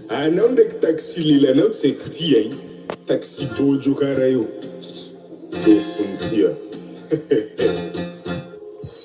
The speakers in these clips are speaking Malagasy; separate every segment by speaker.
Speaker 1: Anao ndraiky taxi lelanao tsy haiko ty ein! Taxi bôjo kara io! Dôfony ty an!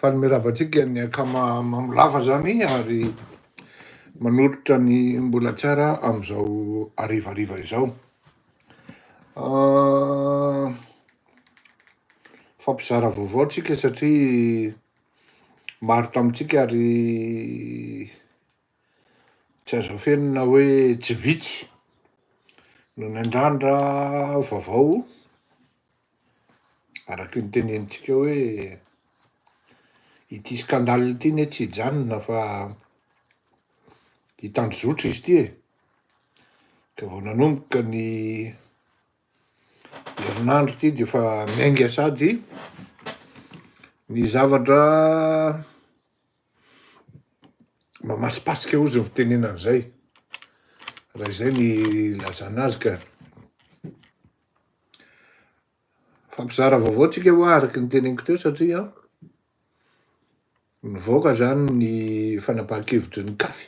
Speaker 2: Faly mirava antsika ny akama mamo lava zany ary manolotra ny mbola tsara amin'izao harivariva izao. Fampizara vaovao tsika satria maro tamintsika ary Tsy azo afenina hoe tsy vitsy no niandrandra vaovao araky ny tenenintsika hoe ity scandale ity anie tsy hijanona fa hitandrozotra izy ity e. Ka vao nanomboka ny herinandro ity dia efa miainga sady ny zavatra Mamatsipatsika ozy ny fitenenana izay. Raha izay ny lazana azy ka. Fampizara vaovao tsika hoa araka ny teneniko teo satria nivoaka zany ny fanapahan-kevitry ny kafy.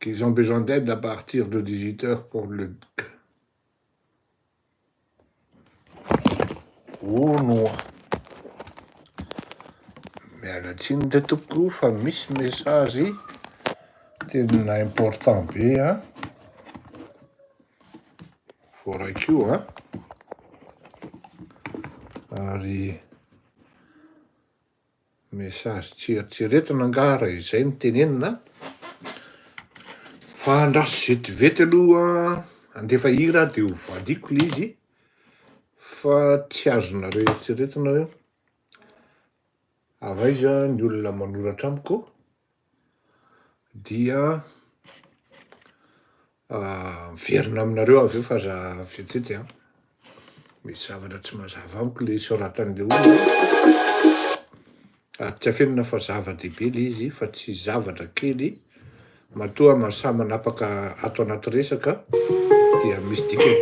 Speaker 2: Qu'ils ont besoin d'aide à partir de 18 heures pour le Ono a! Miala tsiny re tompoko fa misy message tena important be a. Voaraikio a. Ary Message tsy eritreretina angaha raha izay no tenenina fa andraso vetivety aloha handefa hira aho dia ho valiako ilay izy fa tsy azonareo eritreretina hoe avy aiza ny olona manoratra amiko dia miverina aminareo avy eo fa za fetete a misy zavatra tsy mazava amiko le soratan'le olona ary tsy afenina fa zava-dehibe le izy fa tsy zavatra kely matoa masaha manapaka ato anaty resaka dia misy dikany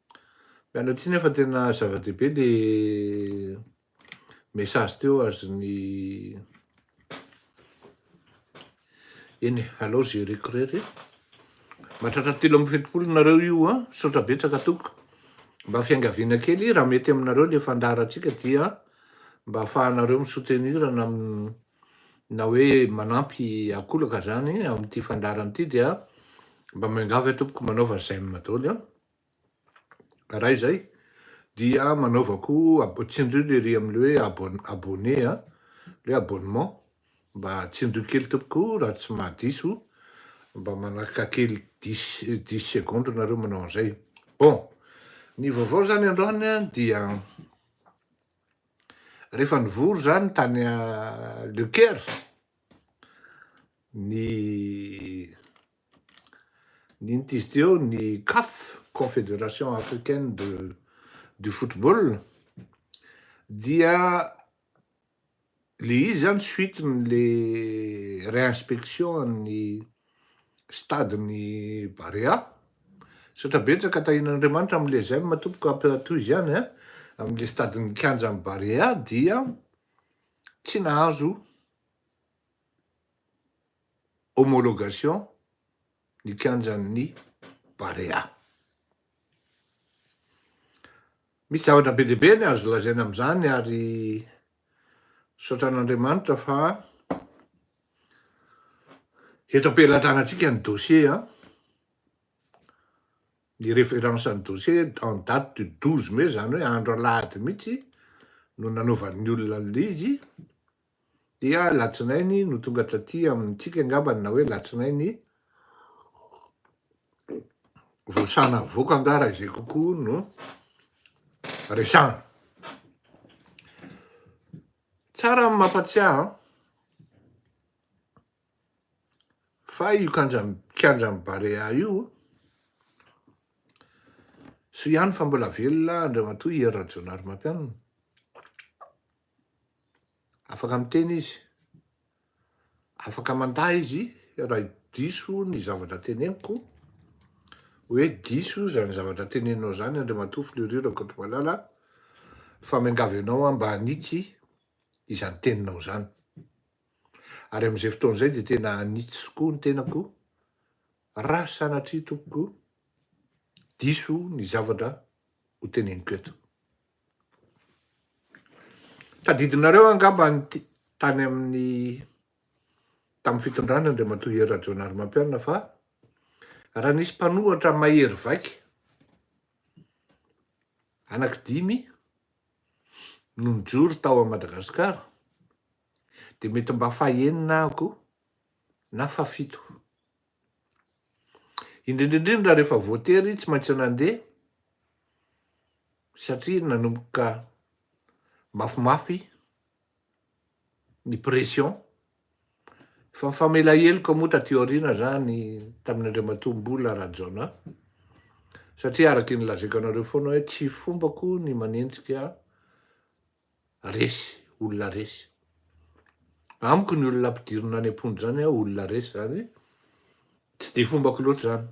Speaker 2: Miala tsiny aho fa tena zava-dehibe le message teo azon'ny eny alao gereko rery matratra telo amby fetopolo nareo io a misaotra betsaka tompoko mba fiangaviana kely raha mety aminareo le fandaharantsika dia mba ahafahanareo mi-soutenir na na hoe manampy akolaka zany amin'ity fandaharana ity dia mba miangavy tompoko manaova j'aime daholo a Raha izay dia manaovako ab- tsindrio le ry amin'le hoe abon- abonné a, le hoe abonnement, mba tsindrio kely tompoko raha tsy mahadiso, mba manaraka kely dix dix secondes nareo manao an'izay. Bon, ny vaovao zany androany a dia rehefa nivory zany tany a- Le Caire ny Nentin'izy teo ny Caf, Confédération Africaine de du Football, dia le izy zany suite ny le réinspection an'ny stade ny Barea, misaotra betsaka Tahian'Andriamanitra amin'ny les j'aime tompoko ampy tohizo ihany a, amin'ny le stade ny kianja ny Barea dia tsy nahazo. homologation ny kianjan'ny Barea. Misy zavatra be dia be ny azo lazaina amin'izany ary misaotra an'Andriamanitra fa eto am-pelatanantsika ny dossier an, ny référence ny dossier en date du 12 mai, izany hoe andro alahady mihitsy no nanaovan'ny olona an'ilay izy, Dia alatsinainy no tonga taty amintsika angambany na hoe alatsinainy vao sahy navoaka angaha raha izay kokoa no resahana. Tsara ny mampatsiahy fa io kianjan'ny Barea io soa ihany fa mbola velona Andriamatoa Hery Rajaonarimampianina. Afaka miteny izy, afaka mandà izy raha diso ny zavatra teneniko, hoe diso izany zavatra teneninao izany Andriamatoa Fleury Rakotomalala fa miangavy anao aho mba hanitsy izany teninao izany. Ary amin'izay fotoana izay dia tena hanitsy tokoa ny tenako raha sanatria tompoko diso ny zavatra hoteneniko eto. Tadidinareo angamba ny tany amin'ny tamin'ny fitondrana Andriamatoa Hery Rajaonarimampianina fa raha nisy mpanohatra mahery vaika anaky dimy no nijoro tao amin'i Madagasikara dia mety mba fahenina aho koa na fafito. Indrindra indrindra rehefa voatery tsy maintsy nandeha satria nanomboka mafimafy ny pression. Fa ny famela heloka moa taty aoriana zany tamin'Andriamatoa Mbola Rajaona satria araka ny lazaiko anareo foana hoe tsy fombako ny manenjika resy, olona resy. Amiko ny olona ampidirina any am-ponja izany a, olona resy izany, tsy dia fombako loatra izany.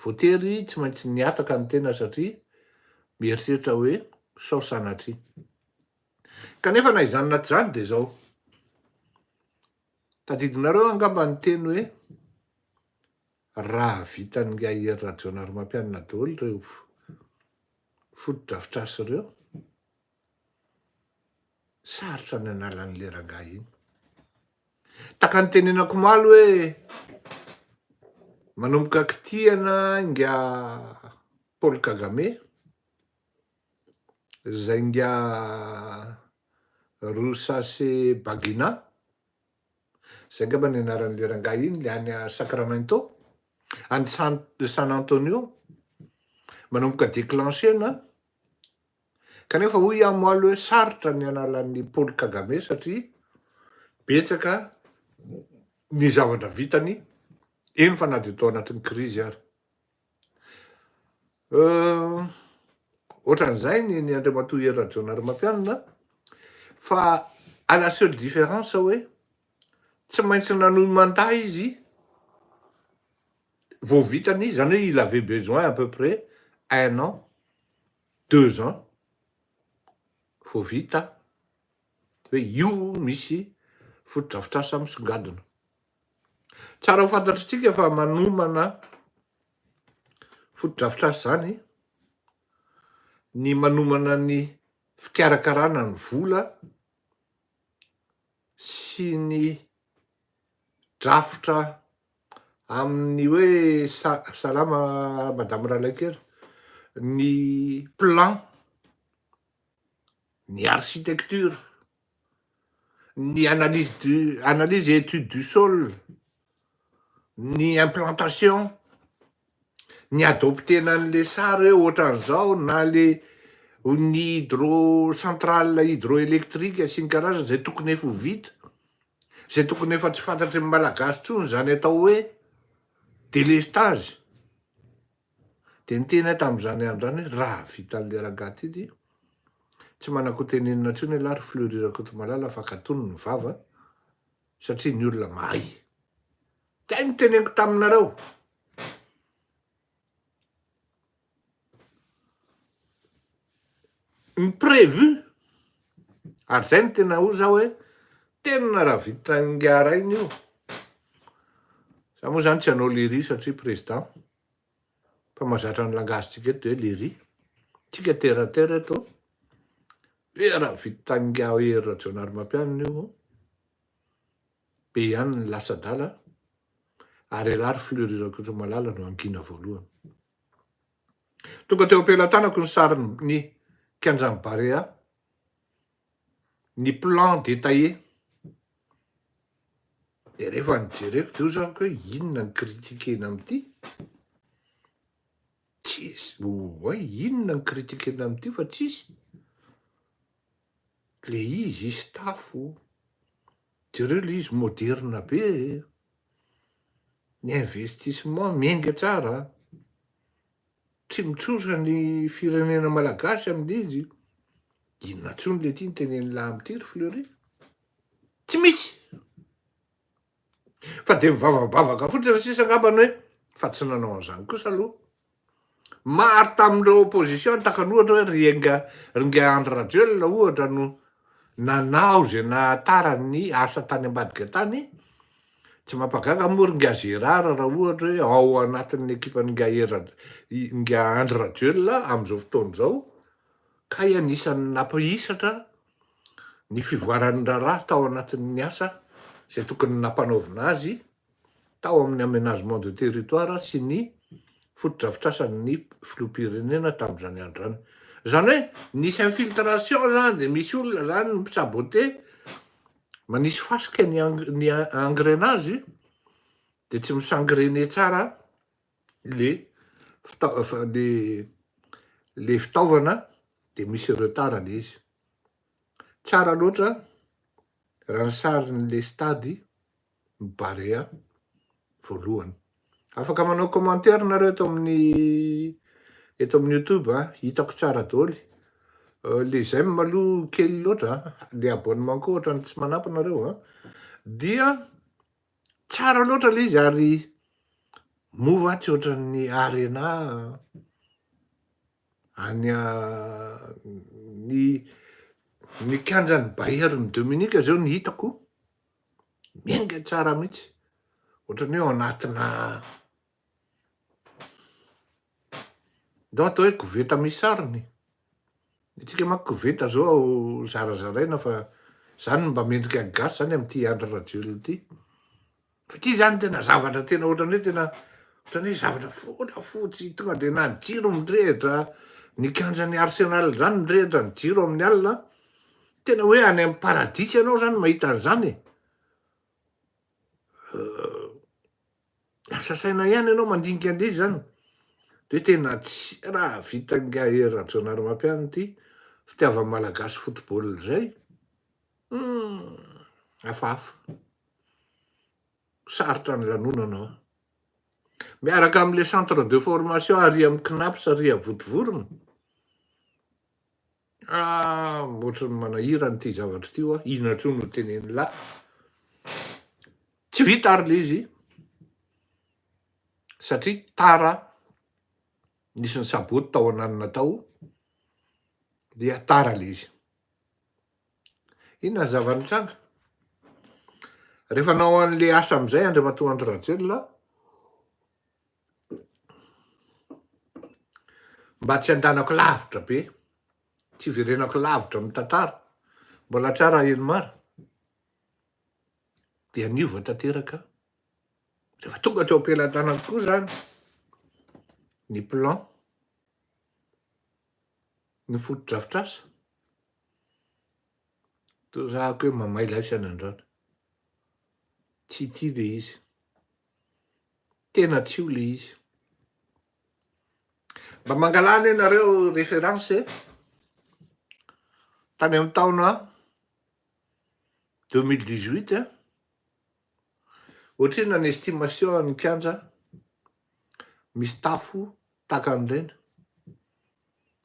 Speaker 2: Voatery tsy maintsy nihataka ny tena satria mieritreritra hoe sao sanatria. Kanefa na izany na tsy izany dia izao, tadidinareo angamba ny teny hoe Raha vitan'i Yair Rajaonarimampianina daholo ireo fotodrafitrasa ireo, sarotra ny hanala an'ilay rangahy iny. Taka ny tenenako omaly hoe manomboka kitihana inga Paul Kagame, izay inga Rusase Bagina, Zay angamba ny anaran'le rangahy iny, le any Sacramento, any San Antonio, manomboka declencher-na, kanefa hoy aho moa aloha hoe sarotra ny hanala an'i Paul Kagame satria betsaka ny zavatra vitany, eny fa na dia tao anatin'ny krizy ary. Ohatran'izay ny ny Andriamatoa Hery Rajaonarimampianina fa à la seule différence hoe tsy maintsy nanohy mandat izy vao vitany izy, izany hoe il avait besoin à peu près un an, deux ans vao vita hoe io misy fotodrafitrasa misongadina. Tsara ho fantatritsika fa manomana fotodrafitrasa izany ny manomana ny fikarakarana ny vola sy ny drafitra amin'ny hoe sa- salama madame Ralaikely, ny plan ny architecture, ny analyse du, analyse et étude du sol, ny implantation, ny adopter-na an'le sary hoe ohatran'izao na le ny hydro centrale hydroélectrique sy ny karazany zay tokony efa ho vita, zay tokony efa tsy fantatry ny Malagasy tsony zany atao hoe délestage. Dia niteny ahy tamin'izany andro izany hoe, Raha vitan'ilay rangahy ity dia tsy manako teny inona intsony ialahy ry Fleury Rakotomalala fa katony ny vava satria ny olona mahay. Izay no teneniko taminareo. Ny prévu, ary zay no tena hoy za hoe tena raha vitan'i Ingahy Rainy io, za moa zany tsy hanao lery satria président, fa mazatra ny langage-tsika eto de hoe lery, tsika terre à terre eto, dia raha vitan'i Ingahy Hery Rajaonarimampianina io, be ihany ny lasa-dala ary elah ry Fleury Rakotomalala no hangina voalohany. Tonga teo am-pelatanako ny sarin'ny kianjan'ny Barea, ny plan détaillé. Dia rehefa nijereko teo izany koa hoe inona ny critiquena amin'ity? Tsisy, oay, inona ny critiquena amin'ity fa tsisy. Le izy, izy tafo, Jereo ilay izy moderina be e! Ny investissement miainga tsara a! Tsy mitsosa ny firenena malagasy amin'ilay izy, inona intsony ilay ity notenen'i Lahy amin'ity ry Fleury? Tsy misy! Fa dia mivavabavaka fotsiny raha sisa angambany hoe fa tsy nanao an'izany kosa aloha Maro tamin'ireo opposition takany ohatra hoe ry enga ry ingahy Andry Rajoelina ohatra no nanao izay nahatara ny asa tany ambadika tany, tsy mampagaga moa ry ingahy Gérard raha ohatra hoe ao anatin'ny ekipan'i ingahy Hery Raj- ingahy Andry Rajoelina amin'izao fotoana izao, kay anisan'ny nampihisatra ny fivoaran'ny raharaha tao anatin'ny asa izay tokony nampanaovina azy tao amin'ny Aménagement de territoire sy ny fotodrafitrasan'ny filoham-pirenena tamin'izany andro izany. Izany hoe nisy infiltration izany dia misy olona izany mi-saboter, manisy fasika ny ny engrenage dia tsy mi-s'engrener tsara le le le fitaovana dia misy retard le izy. Tsara loatra raha ny sarin'le stade Barea voalohany. Afaka manao commentaire nareo eto amin'ny eto amin'ny YouTube a, hitako tsara doly. Euh, le j'aime aloha kely loatra, le abonnement koa ohatrany tsy manampy nareo a. Dia tsara loatra le izy ary mova tsy ohatran'ny arena any ny ny kianjan'ny Bayern Dominique zao ny hitako. Miainga tsara mihitsy, ohatrany hoe ao anatina ndao atao hoe koveta misy sarony, ny antsika manko koveta zao zarazaraina fa zany mba mendrika ny gasy zany amty Andry Rajoelina ity, fa ity zany tena zavatra tena ohatrany hoe tena ohatrany hoe zavatra volafotsy tonga de na ny jiro mirehitra, ny kianjan'ny Arsenal zany mirehitra ny jiro amin'ny alina, Tena hoe any amin'ny paradisa ianao zany mahita an'izany e! Lasa saina ihany ianao mandinika an'ilay izy zany. Dia tena tsy raha vitan'ingahy Hery Rajaonarimampianina ity fitiavan'ny Malagasy football izay. Hafahafa. Sarotra ny lanonana an. Miaraka amin'ilay centre de formation ary amin'ny CNAPS Riavotovorona. Ah! ohatran'ny manahirana ity zavatra ity hoa, inona intsony no tenenin'i la. Tsy vita ary le izy satria tara nisy ny saboty tao ananina tao dia tara le izy. Inona ny zava-nitranga? Rehefa nao an'le asa amin'izay Andriamatoa Andry Rajoelina Mba tsy andanako lavitra be, tsy hiverenako lavitra amin'ny tantara, mbola tsara aho eny mara, dia niova tanteraka, rehefa tonga teo am-pelatanako koa izany ny plan, ny fotodrafitrasa, toa zahako hoe mamay laisana androany, tsy tia ilay izy. tena tsy io le izy. Mba mangalà anie nareo référence e. Tany amin'ny taona 2018 e. Ohatrina ny estimation an'ny kianja misy tafo takan'ireny.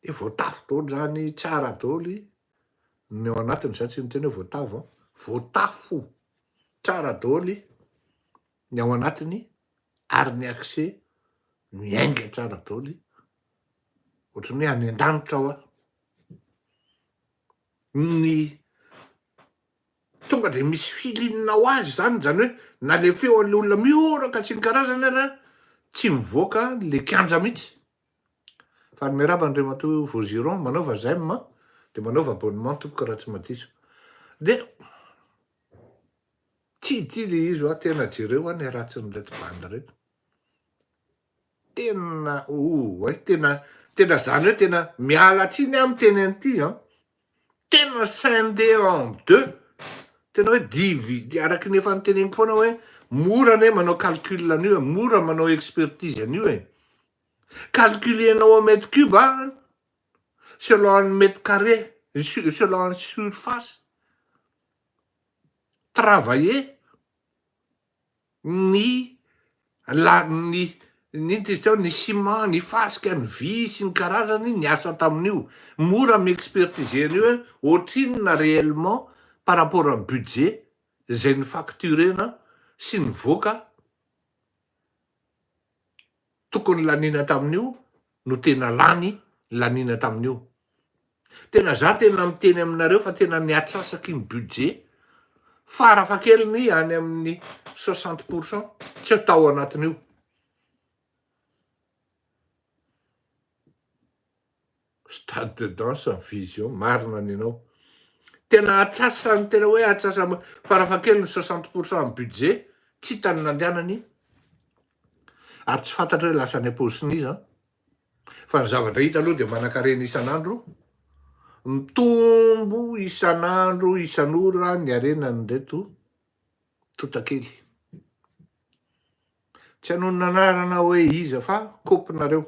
Speaker 2: Dia voatafo daholo zany tsara daholo i. Ny ao anatiny izany tsy niteny hoe voatavo an, voatafo tsara daholo ny ao anatiny ary ny accès miainga tsara daholo ohatran'ny hoe any an-danitra ao aho. Ny tonga dia misy feeling ho azy izany, izany hoe nalefeo an'ilay olona mihoraka tsy ny karazany ary tsy mivoaka ilay kianja mihitsy. Fa miarahaba Andriamatoa Vaugiron, manaova j'aime an, dia manaova abonnement tompoko raha tsy madiso. Dia tsy ity ilay izy hoa, tena jereo hoa ny ratsin'ireto bandy ireto. Tena oh, tena tena izany hoe tena miala tsiny aho miteny an'ity an. Tena scindé en deux, tena hoe divider, araky ny efa noteneniko foana hoe mora anie manao calcul an'io e, mora manao expertise an'io e, calculenao en mètre cube an, selon ny mètre carré, selon ny surface travaillée. ny la ny inona izy teo, ny ciment, ny fasika, ny vy sy ny karazany niasa tamin'io. Mora mi-expertiser an'io hoe ohatrinona réellement par rapport amin'ny budget izay ni-facturer-na sy nivoaka. tokony laniana tamin'io no tena lany laniana tamin'io. Tena za tena miteny aminareo fa tena niatsasaky ny budget farafahakeliny any amin'ny 60 pour cent tsy eo tao anatin'io. Stade de danse ny vision, marina ny anao. Tena atsasa ny tena hoe atsasa farafahakeliny soixante pour cent ny budget, tsy hita ny nandehanany ary tsy fantatra hoe lasa any am-paosin'iza fa ny zavatra hita aloha dia manan-karena isan'andro, mitombo isan'andro isan'ora ny harenan'ireto totakely. Tsy hanonona anarana hoe iza fa kopy nareo.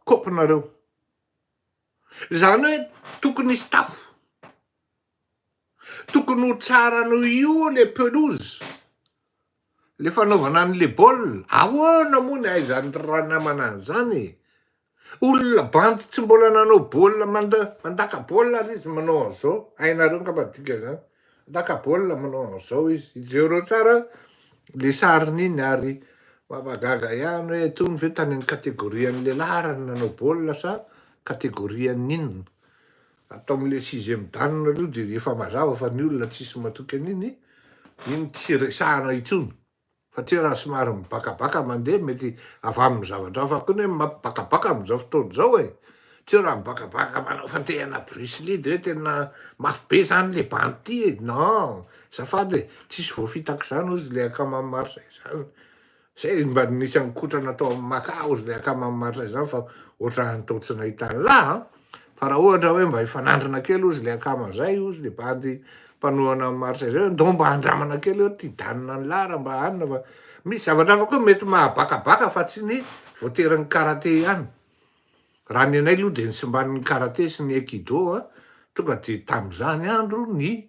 Speaker 2: kopinareo zany hoe tokony hisy tafo tokony ho tsara noho io le pelouse le fanaovana an'le baolina ahoana moa ny ahaizan'ny ranamana an'izany e olona bandy tsy mbola nanao baolina manda- mandaka baolina ary izy manao an'izao hainareo angamba dikan'izany Naka baolina manao an'izao izy. Ijereo tsara le sariny iny ary mampagaga ihany hoe tony ve tany amin'ny catégorie an'ny lehilahy ara ny nanao baolina sa catégorie an'ny inona. Ato amin'ilay sixième dan aloha dia efa mazava fa ny olona tsisy matoky an'iny, iny tsy resahana intsony. Fa tsia raha somary mibakabaka mandeha mety avy amin'ny zavatra hafa koa ny hoe mampibakabaka amin'izao fotoana izao e! Tsia raha mibakabaka manao fantehana Bruce Lee de hoe tena mafy be izany le bandy ity e! Non! Azafady e! Tsisy voafitak'izany hozy le akama maro izay izany. Izay mba nisy haninkotrana tao amin'ny Macau hozy le akama maro izay izany fa ohatran'ny tao tsy nahita an'lah a! Fa raha ohatra hoe mba hifanandrina kely ozy le akama zay ozy le bandy mpanohana an'i Marsa zay hoe ndao mba andramana kely eo ty danina an'i Lara mba hanina fa misy zavatra hafa koa mety mahabakabaka fa tsy ny voaterin'ny karate ihany. Raha ny anay loha de ny simban'ny karate sy ny aikido a tonga de tam'zany andro ny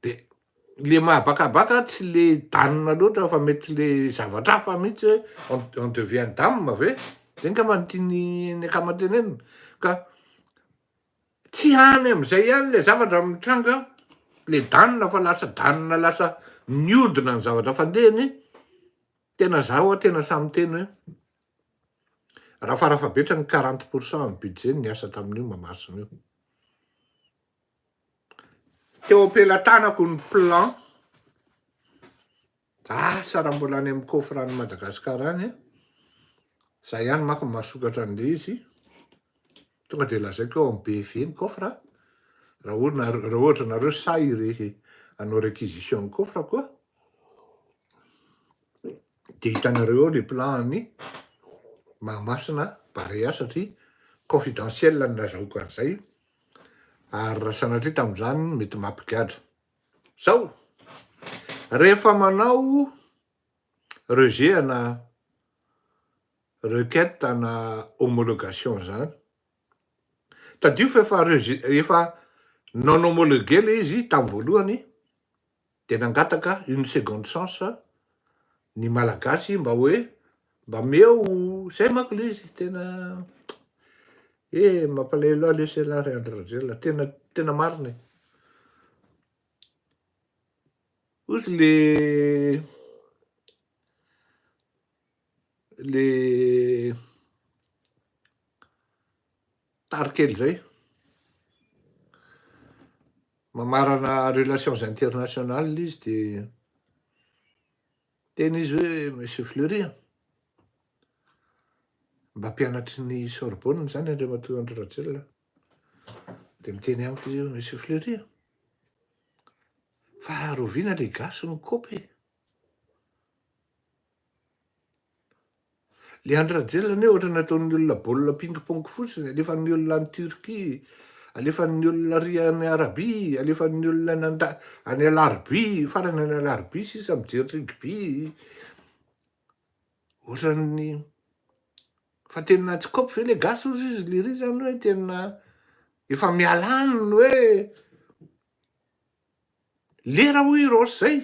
Speaker 2: De le mahabakabaka tsy le dame loatra fa mety le zavatra hafa mihitsy hoe on on devient dame ve? Zay ngamba no tian'ny ny akama tenenina ka tsy any am'zay ihany le zavatra no mitranga le dame fa lasa dame lasa miodina ny zavatra fandehany, tena za oa tena sahy miteny hoe raha farafahabetrany quarante pour cent ny budget ny niasa tamin'io Mahamasina io. Teo am-pelatanako ny plan. Asa raha mbola any amin'ny coffre any Madagasikara any. Za ihany manko no mahasokatra an'ilay izy. Tonga dia lazaiko eo amin'ny BV ny coffre. Raha ohatra nareo sahy irery hanao réquisition ny coffre koa dia hitanareo eo ilay plan an'i Mahamasina Barea satria confidentiel no nazahoako an'izay. Ary raha sanatria tamin'izany no mety mampigadra. Zao, rehefa manao rejet na requête na homologation zany, tadidio fa efa efa non homologué le izy tamin'ny voalohany, Dia nangataka une seconde chance ny Malagasy mba hoe mba meo zay manko le izy tena he mampalahelo ahy lesy elah ry Andry Rajoelina tena tena marina e ozy le le Tary kely izay. Mamarana relations internationales ilay izy dia teny izy hoe Monsieur Fleury a, mba mpianatry ny Sorbonne izany Andriamatoa Andry Rajoelina dia miteny amiko izy hoe Monsieur Fleury a, fa rahoviana ilay gasy mikopy e? Le Andry Rajoelina anie ohatra ny ataon'ny olona baolina ping pong fotsiny, alefan'ny olona any Turquie, alefan'ny olona ary any Arabie, alefan'ny olona any anda- any Alarobia, farany any Alarobia sisa mijery rugby, ohatran'ny fa tena tsy kôpy ve le gasy ozy izy le ry zany hoe tena efa miala any ny hoe lera hoy i Rossy zay.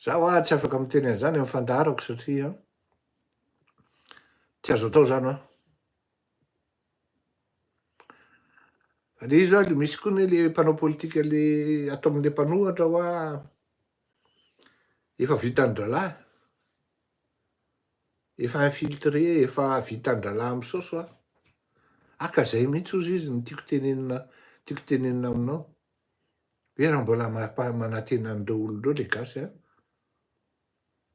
Speaker 2: Za wa tsy afaka miteny an'zany amin'ny fandaharako satria tsy azo atao zany wa. Fa le izy wa le misy koa ne le mpanao politika le ato amin'ny mpanohatra wa efa vitan-drahalahy, efa infiltré, efa vitan-drahalahy misaosy wa. Haka zay mihitsy ozy izy ny tiako tenenina, tiako tenenina aminao. Ve raha mbola mampaha manatena an'ireo olona ireo le gasy a?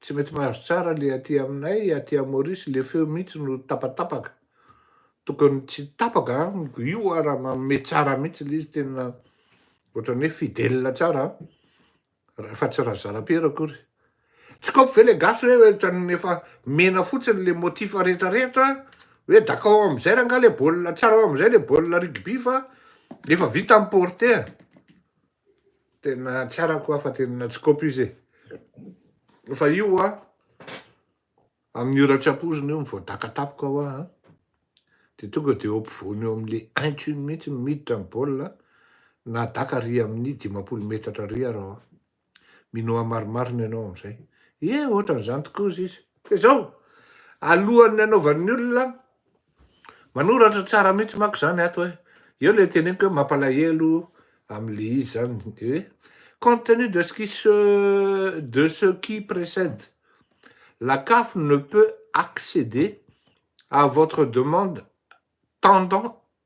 Speaker 2: Tsy mety mahazo tsara le aty aminay aty à Maurice le feo mihitsy no tapatapaka. Tokony tsy tapaka amiko io ara manome tsara mihitsy le izy tena ohatran'ny hoe fidèle tsara a. Raha fa tsy Razarapiera akory. Tsy kôpy ve le gasy hoe oetrany efa mena fotsiny le motif rehetra rehetra hoe dakao amizay rangah le baolina tsara ao amizay le baolina rugby fa efa vita ny porte a tena tsara koa fa tena tsy kôpy izy e fa io a amin'ny ora tsy ampozina io mivoadaka tapoka hoa a de tonga de eo ampovoany eo amle intsiny mihitsy miditra ny baolina na daka ry amin'ny dimampolo metatra ry arao a Minoa marimarina ianao amin'izay. Ie, ohatran'izany tokoa hozy izy. Dia izao, alohan'ny hanaovan'ny olona, manoratra tsara mihitsy manko izany ato hoe, eo ilay teneniko hoe mampalahelo amin'ilay izy izany, dia hoe compte tenu de ce qui se, de ce qui précède, la caf ne peut accéder à votre demande tendant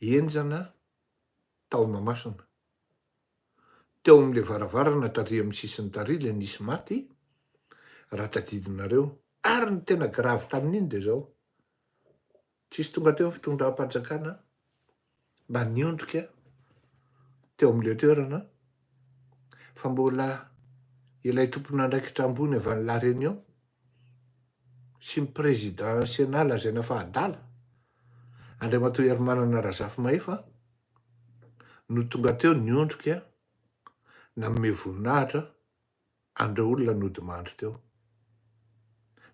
Speaker 2: henjana tao Mahamasina. Teo amin'ilay varavarana taria amin'ny sisiny taria ilay nisy maty, raha tadidinareo. Ary ny tena gravy tamin'iny dia izao, tsisy tonga teo ny fitondram-panjakana mba niondrika teo amin'ilay toerana fa mbola ilay tompon'andraikitra ambony avy any La Réunion, sy ny Président Sénat lazaina fa adala, Andriamatoa Herimanana Razafimahefa, no tonga teo niondrika nanome voninahitra an'ireo olona nodimandry teo.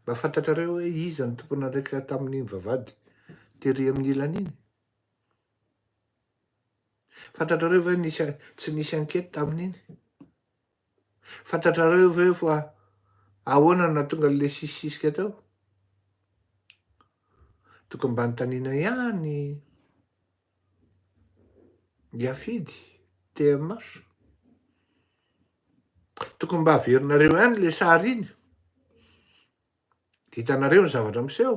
Speaker 2: Mba fantatrareo hoe iza ny tompon'andraikitra tamin'iny vavahady tery amin'ny ilany iny? Fantatrareo ve nisy tsy nisy enquête tamin'iny? Fantatrareo ve fa ahoana no nahatonga an'ilay sisisika teo? Tokony mba nitaniana ihany Yafidy, TMH. Tokony mba averinareo ihany ilay sary iny, dia hitanareo ny zavatra miseho.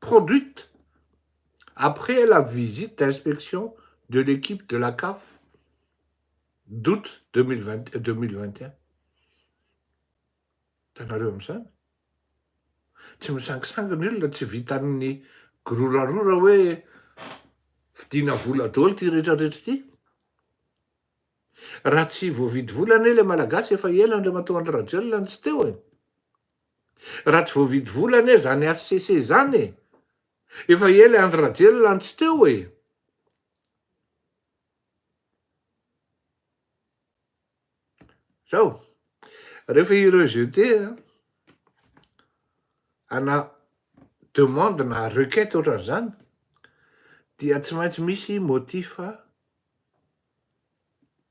Speaker 2: produite après la visite d'inspection de l'équipe de la CAF d'août 2020 2021. Hitanareo amin'izany? Tsy misangisangy ny olona, tsy vitan'ny girorarora hoe vidiana vola daholo ity rehetra rehetra ity. Raha tsy voavidy vola anie ilay malagasy efa ela Andriamatoa Andry Rajoelina no tsy teo e. Raha tsy voavidy vola anie zany HCC zany e! Efa ela Andry Rajoelina no tsy teo e! Zao, rehefa i rejeter ana demande na requête ohatran'izany dia tsy maintsy misy motif.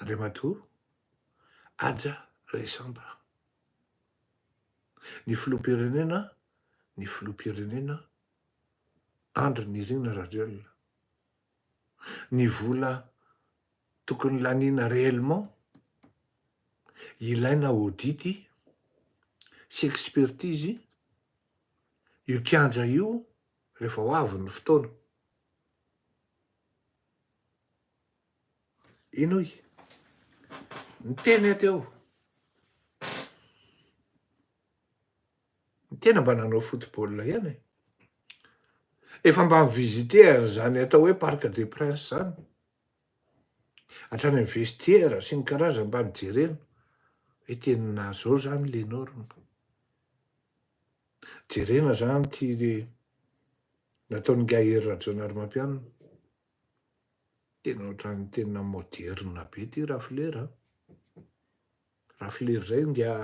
Speaker 2: Andriamatoa Haja Resambra. Ny Filoham-pirenena ny Filoham-pirenena Andry Nirina Rajoelina. Ny vola tokony laniana réellement, ilaina audit sy expertise io kianja io rehefa ho avy ny fotoana. Inoy. Ny teny aty ao. Ny tena mba nanao football ihany e. Efa mba mi-visiter an'izany atao hoe Parc des Princes zany. Hatrany amin'ny vestiaire sy ny karazany mba nijerena. Hoe tena zao zany le norme. Jerena zany ty le nataon'ingahy Hery Rajaonarimampianina. Tena ohatran'ny tena moderne be ity rafilera a! Rafilera izay ngia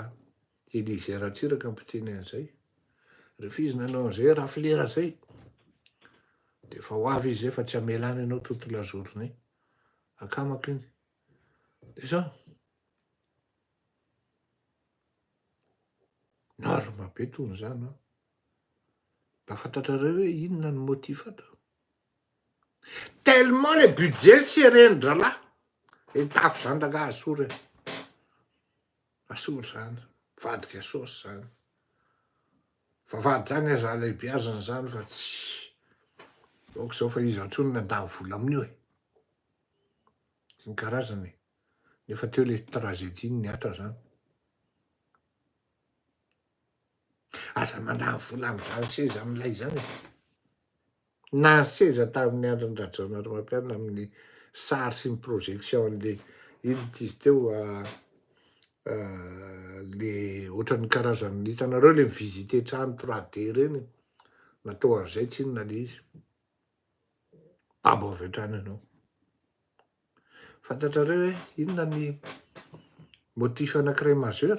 Speaker 2: Elysée Ratsiraka no mpiteny an'izay. Rehefa izy nanao an'izay rafilera izay dia efa ho avy izy izay fa tsy hamela any ianao toute la journée. Akamako iny. Dia izao. Norme be toy izany an! Mba fantatrareo hoe inona ny motif ato? Tellement le budget serré ny dralahy e tafo zany rangah asoro e asoro zany mivadika sôsy zany vavady zany aza alebiazana zany fa tsy ok zao fa iza tsony nandany vola aminio e sy ny karazany e nefa teo le tragedie ny atra zany Aza mandany vola amin'izany seza milay izany e! Na ny seza tamin'ny andron'i Rajaonarimampianina amin'ny sary sy ny projection an'ilay inona ity izy teo le ohatran'ny karazan'ny hitanareo le mi-visiter trano 3D ireny natao an'izay tsy inona le izy. Babo avy hatrany ianao. Fantatrareo hoe inona ny motif anankiray majeur?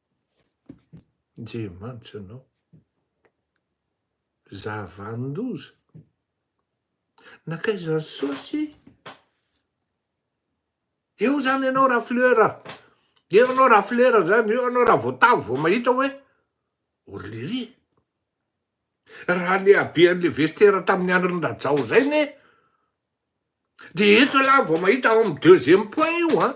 Speaker 2: Je mantsy anao. Zavan-doza. Nankaiza ny sosy? Eo zany ianao raha fleur, eo ianao raha fleur zany, eo ianao raha voatavo vao mahita hoe orlery. Raha le habean'le vestera tamin'ny andron'ny rajao zay ne, de eto lah vao mahita ao amin'ny deuxième point io an.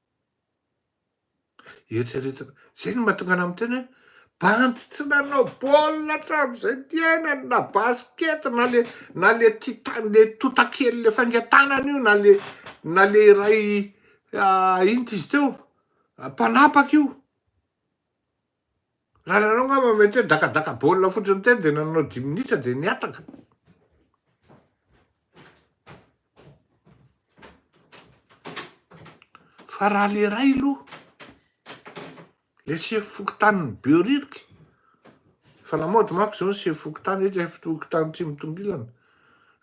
Speaker 2: Eritreretina, zay no mahatonga anah miteny hoe bandy tsy nanao baolina hatramin'izay ny fiainany na basket na le na le tita- le totakely le fainga tanana io na le na le iray inty izy teo mpanapaka io. Ary ianao angamba mety hoe dakadaka baolina fotsiny teny dia nanao dimy minitra dia nihataka. Fa raha le ray aloha, le sefo fokontanin'ny Behoririka, fa lamaody manko izao ny sefo fokontany, eto efa fokontany tsy mitongilana,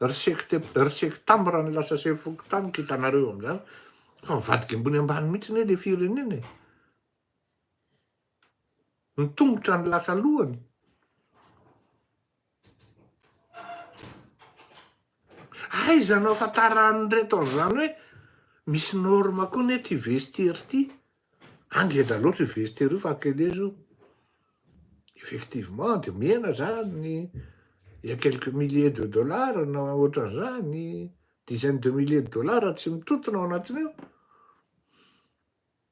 Speaker 2: ry sekte ry sektam raha ny lasa sefo fokontany, kitanareo amin'izany fa mivadika ambony ambany mihitsy anie le firenena e. Ny tongotra ny lasa lohany. Aiza no ahafantaran'ny reto an'izany hoe misy norme koa ne ty vestiaire ty. An ngeda loatra io vestiaire io fa Akelez io. Effectivement dia mihena zany il y a quelques milliers de dollars na ohatran'izany, dizaines de milliers de dollars tsy mitotona ao anatin'io.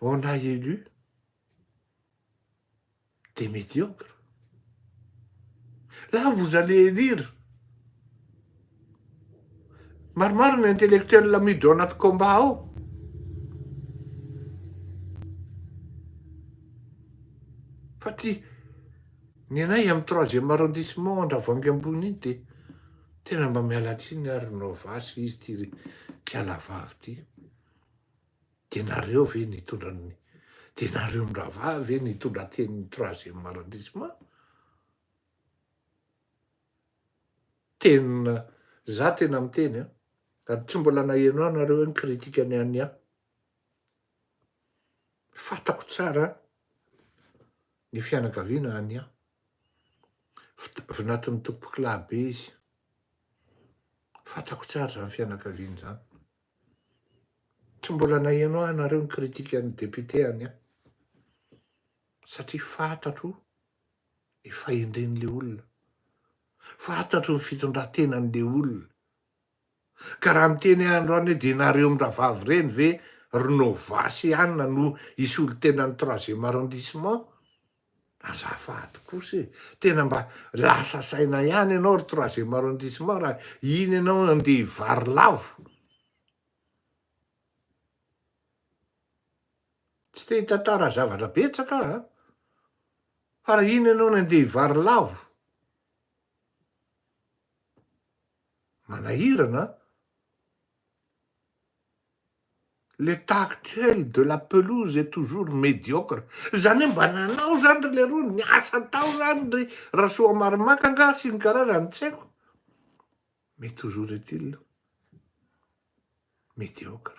Speaker 2: On a élu des médiocres. Là, vous allez élire maromaro ny intellectuel miditra ao anaty combat ao. Fa ty ny anay amin'ny troisième arrondissement Andravoahangy ambony iny dia tena mba miala tsiny ary Novas izy ty ry kialavavy ty. Dia nareo ve nitondra ny dia nareo ndravaha ve nitondra tenin'ny troisième arrondissement? Tena za tena miteny a, ary tsy mbola naheno ahy nareo hoe nikritika ny an'ny ahy. Fatako tsara ny fianakaviana an'ny ahy. Vinatin'ny tompokolahy be izy. Fatako tsara zany fianakaviana zany. Tsy mbola naheno ahy nareo ny critique an'ny député any an! Satria fantatro ny fahendren'le olona, fantatro ny fitondrantenan'le olona, ka raha miteny ahy androany hoe dia nareo miravavy ireny ve ry Nova sy Anna no hisolo tena ny troisième arrondissement? Azafady kosa e! Tena mba lasa saina ihany ianao ry troisième arrondissement raha iny ianao andeha hivary lavo. Tsy te hitantara zavatra betsaka aho an! Fa raha iny ianao no andeha hivary lavo, manahirana an! L'état actuel de la pelouse est toujours médiocre, zany hoe mba nanao zany ry leroa, niasa tao zany ry Rasoamarimaka angaha sy ny karazany tsy haiko, mais toujours est-il médiocre.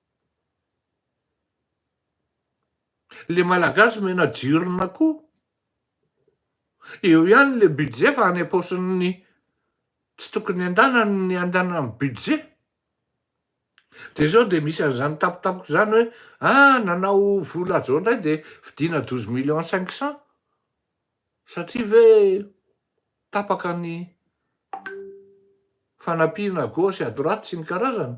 Speaker 2: Le malagasy omena jirona ko. Eo ihany le budget fa any ampaosin'ny tsy tokony andanany ny andanan'ny budget. Dia zao dia misy an'izany tampotampoka izany hoe ah nanao vola zao indray dia vidiana douze millions cinq cents satria ve tapaka ny fanampiana à gauche et à droite sy ny karazany.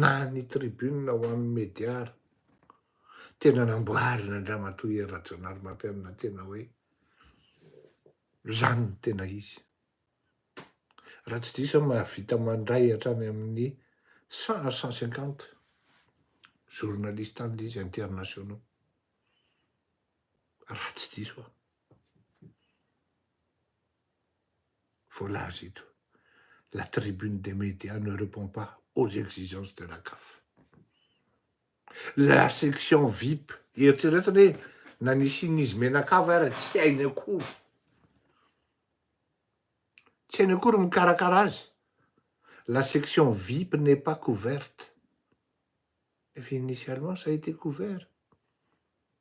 Speaker 2: na ny tribune ho an'ny media ary. Tena namboarina an-dRamatoa Hery Rajaonarimampianina tena hoe izany no tena izy. Raha tsy diso aho mahavita mandray hatrany amin'ny cent à cent cinquante journalistes any izy internationaux. Raha tsy diso aho. Voalaza eto, la tribune des medias ne repond pas aux exigences de la Caf. La section vip, eritrereto anie na nisian'izy menakava ara tsy hainy akory, tsy hainy akory ny mikarakara azy, la section vip n'est pas couverte, nefa initialement ça a été couvert.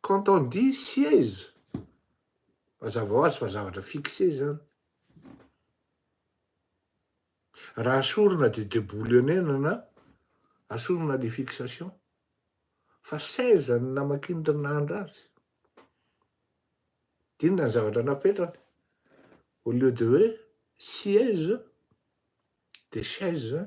Speaker 2: Quand on dit siège, mazava ho azy fa zavatra fixé izany. Raha sorona dia deboulonnenana, asorina ny fixation. Fa seize ny namakian-dRinandra azy. Dinona ny zavatra napetrany. Au lieu de hoe siège dia chaise.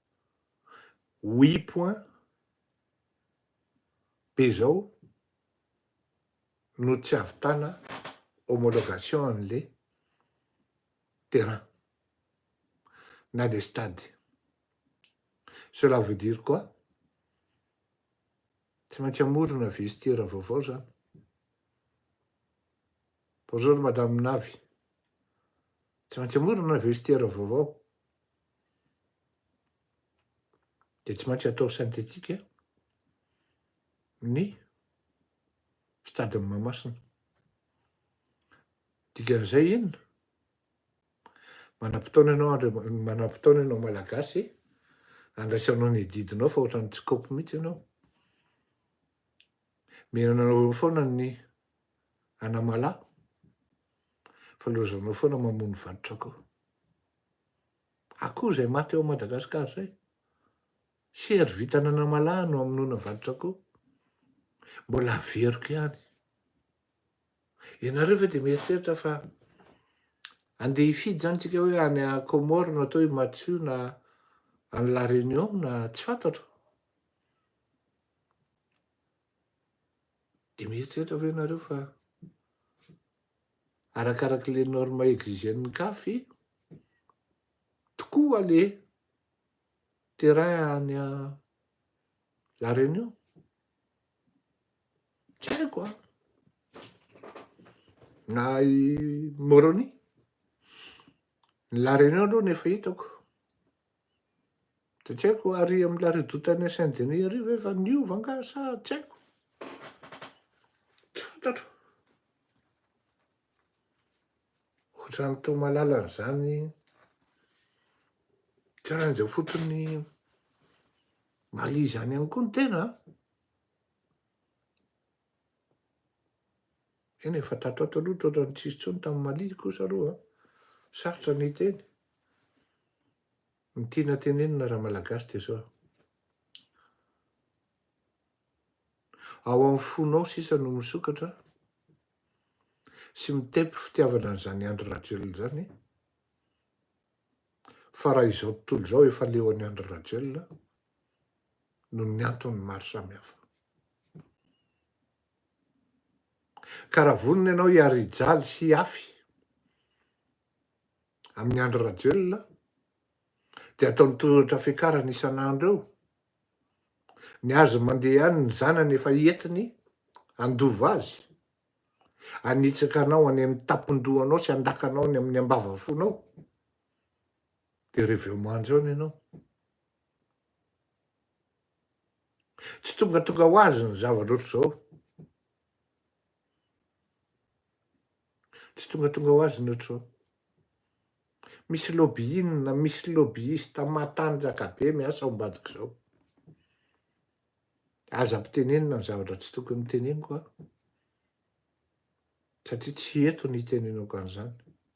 Speaker 2: Oui point be zao no tsy avitana homologation anle terrain na le stade cela veut dire quoi tsy maintsy amorona vestiaire vaovao zany bonjour madame navy tsy maintsy amorona vestiaire vaovao dia tsy maintsy atao synthétique ny stade-n'i Mahamasina. Dikan'izay inona? Manam-potoana ianao Andri- manam-potoana ianao Malagasy handraisanao ny didinao fa ohatran'ny tsy kaopy mihitsy ianao. Mihinana anao foana ny anamalaho fa lozanao foana mamono vato-tsakoa. akoho izay maty ao Madagascar izay. Sery vintana anamalaho no amonoana vaditsakoho. Mbola averiko ihany. Ianareo ve dia mieritreritra fa andeha hifidy izany tsika hoe any Comore no atao i Matsu na any La Réunion na tsy fantatro. Dia mieritreritra ve ianareo fa arakaraky le norme exigen'ny caf tokoa le terrain any la reunion tsy haiko an na i moroni ny la reunion aloha ny efa hitako Dia tsy haiko ary amin'ny la redoute any Saint Denis ary ve efa niova angaha sa tsy haiko. Tsy fantatro. Ohatran'ny tao malala an'izany taranja fotony Mali izany ihany koa ny tena. Eny e, fa tato ato aloha toa ohatran'ny tsy nisy intsony tamin'ny Mali kosa aloha an. Sarotra ny hiteny. Ny tiana tenenina raha malagasy dia izao. Ao amin'ny fonao sisa no misokatra sy mitepy fitiavana an'izany Andry Rajoelina izany fa raha izao tontolo izao efa leo an'i Andry Rajoelina noho ny antony maro samihafa. Ka raha vonona ianao hiary hijaly sy hihafy amin'i Andry Rajoelina dia ataony tohatra fiakarany isan'andro eo ny azy mandeha ihany ny zanany efa entiny handova azy hanitsaka anao any amin'ny tampon-dohanao sy handakanao any amin'ny ambavafonao dia reveo manjo any ianao Tsy tongatonga ho azy ny zavatra ohatr'izao. Tsy tongatonga ho azy ny ohatr'izao. Misy lobbying, misy lobbyiste matanjaka be miasa ao ambadik'izao. Aza mpitenenina ny zavatra tsy tokony hoteneniko aho, satria tsy eto ny hitenenako an'izany.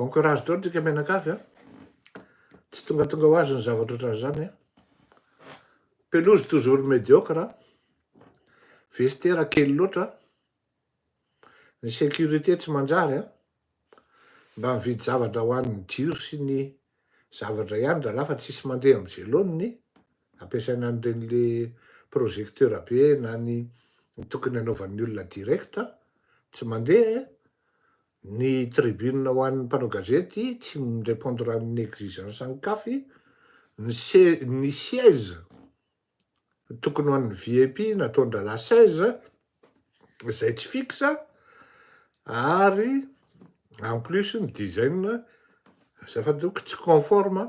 Speaker 2: Bon courage daholo tsika mianakavy a. Tsy tongatonga ho azy ny zavatra ohatran'izany a. Pelouse toujours médiocre, vestiaire kely loatra, ny sécurité tsy manjary a. Mba mividy zavatra ho an'ny jiro sy ny zavatra ihany rahalahy fa tsisy mandeha amin'izay laoniny. ampiasaina an'ireny le projecteur be na ny tokony anaovan'ny olona direct tsy mandeha eh! Ny tribune ho an'ny mpanao gazety tsy mi-repondre amin'ny exigence an'i caf, ny se ny siège tokony ho an'ny VIP nataon-drahalahy seize izay tsy fixe ary en plus ny design azafady ok tsy conforme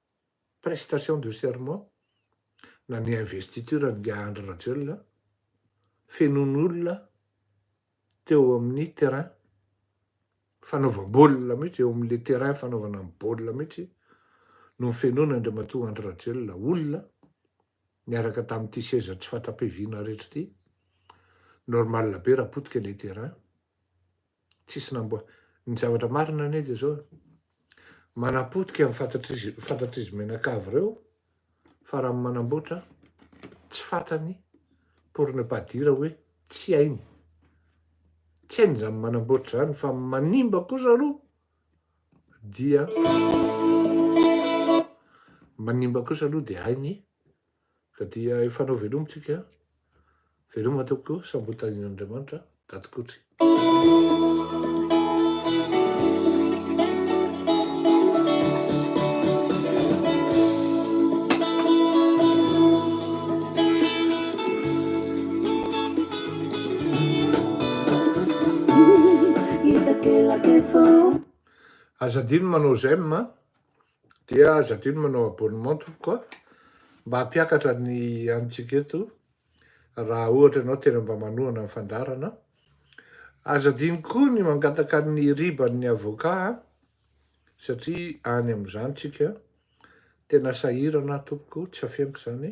Speaker 2: prestation de serment na ny investiture an'ingahy Andry Rajoelina fenoiny olona teo amin'ny terrain fanaovam-baolina mihitsy eo amin'ilay terrain fanaovana ny baolina mihitsy no fenoina Andriamatoa Andry Rajoelina olona niaraka tamin'ity seza tsy fatra-piaviana rehetra ity normal be raha potika ilay terrain Tsisy namboa. Ny zavatra marina anie dia zao, manapotika ny fantatr'izy fantatr'izy mianakavy reo fa raha manamboatra tsy fatany pour ne pas dire hoe tsy hainy. Tsy hainy zany manamboatra zany fa manimba kosa aloha dia manimba kosa aloha dia hainy. Ka dia efa anao veloma tsika a! Veloma tompoko, sambotan' Andriamanitra daty Kotsy. Aza adino manao j'aime a. Dia aza adino manao abonnement tompoko a! Mba hampiakatra ny antsika eto raha ohatra ianao tena mba manohana ny fandaharana. Aza adino koa ny mangataka ny riban'ny avocat a! Satria any amin'izany tsika tena sahirana tompoko, tsy afeniko izany.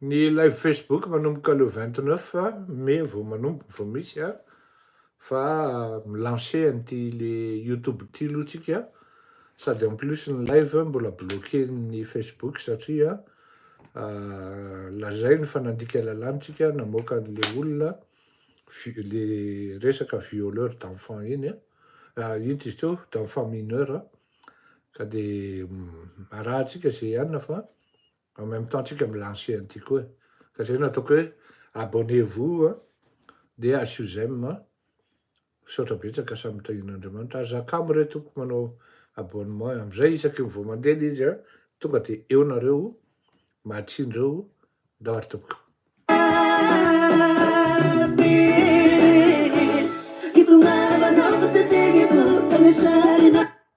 Speaker 2: Ny live Facebook manomboka le vingt neuf mai vao manomboka vao misy a, fa mi-lancer an'ity le YouTube ity aloha tsika, sady en plus ny live mbola bloquer-n'ny Facebook satria lazainy fa nandika lalàna tsika namoaka an'le olona le resaka violeur d'enfant iny a, ah, inty izy teo, d'enfant mineur a, ka de mm, arahantsika ze ihany fa en même temps tsika mi-lancer an'ity koa e, ka zay no ataoko hoe abonnez-vous a, de asio j'aime a, Misaotra betsaka samy mitahian'Andriamanitra. Ary za kamo re tompoko manao abonnement amizay isaky ny vao mandeha le izy a tonga de eo nareo mahatsinreo ndao ary tompoko.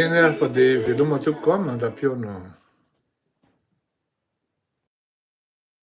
Speaker 2: Eny ary fa dia veloma tompoko a mandra-pihaona.